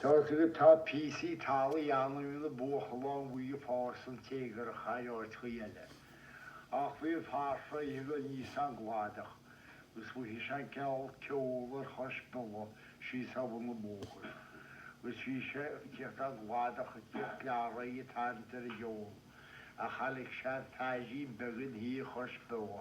Tá a fhios agat tá píosaí talaimh ann a mbíonn an buachalán buí ag fás an-téagarach thar áiteacha eile. Ach bhí an fear seo ag dul aníos ón gcladach agus mhothaigh sé an ceol ar chois balla síos ag bun an bhóthair agus bhí sé ag tíocht ón gcladach ag tíocht leathréidh ag tarraingt ar an gceol ach chonaic sé an feairín beag ina shuí chois balla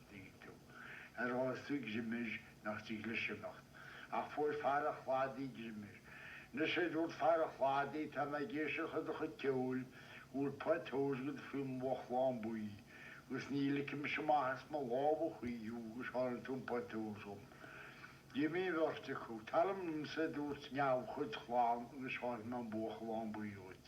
dcu. Ó fhaigheas tú greim air nach dtig leis imeacht. Ach fuair fear an chladaigh greim air. Anois a dúirt fear an chladaigh tá mé ag éisteacht le do chuid ceoil go bhfuil pota óir agat faoi bhuachalán buí agus ní ligfidh mise amach as mo lámha thú go spáinfidh tú an pota óir dhom. D'imigh an bheirt acu. Teara liomsa a dúirt an leipreachán agus spáinfidh mé an buachalán buí dhuit.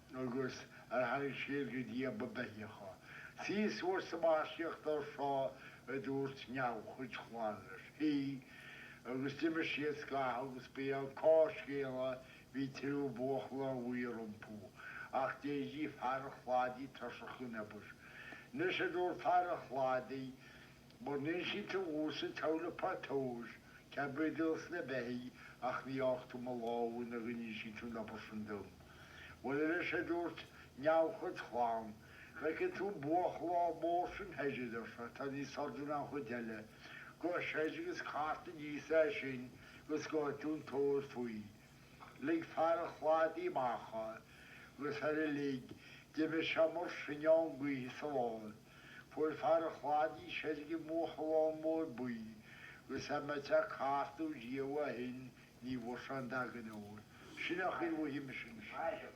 agus ar tháinig siad go dtí a ba beithidheacha. Suigh suas sa mhaistíoch dorsá a dúirt an leipreachán leis. Shuigh, agus d'imigh siad scaitheamh agus ba é an cás céanna bhí triúr buachalán buí rompu. Ach d'éirigh fear an chladaigh tuirseach den obair. Anois a dúirt fear an chladaigh, Mura n-inseoidh tú dhomsa cá bhfuil an pota óir, cead bídh do's na beithidhigh ach ní fhágfaidh tú mo lámha go n-inseoidh tú an obair sin dom. Bhuel a deir sé a dúirt an leipreachán, an bhfeiceann tú an buachalán mór sin thoir a deir sé, atá níos airde ná an chuid eile, gabh soir agus cart aníos é sin agus gheobhaidh tú an t-ór faoi. Lig fear an chladaigh amach é agus ar a lig, d'imigh sé mar sinneán gaoithe as a lámha. Fuair fear an chladaigh seilbh i mbuachalán mór buí agus dá mbeadh sé ag cartadh riamh ó shin ní bhfuair sé dada den ór. Sin é a chuala mise ansin.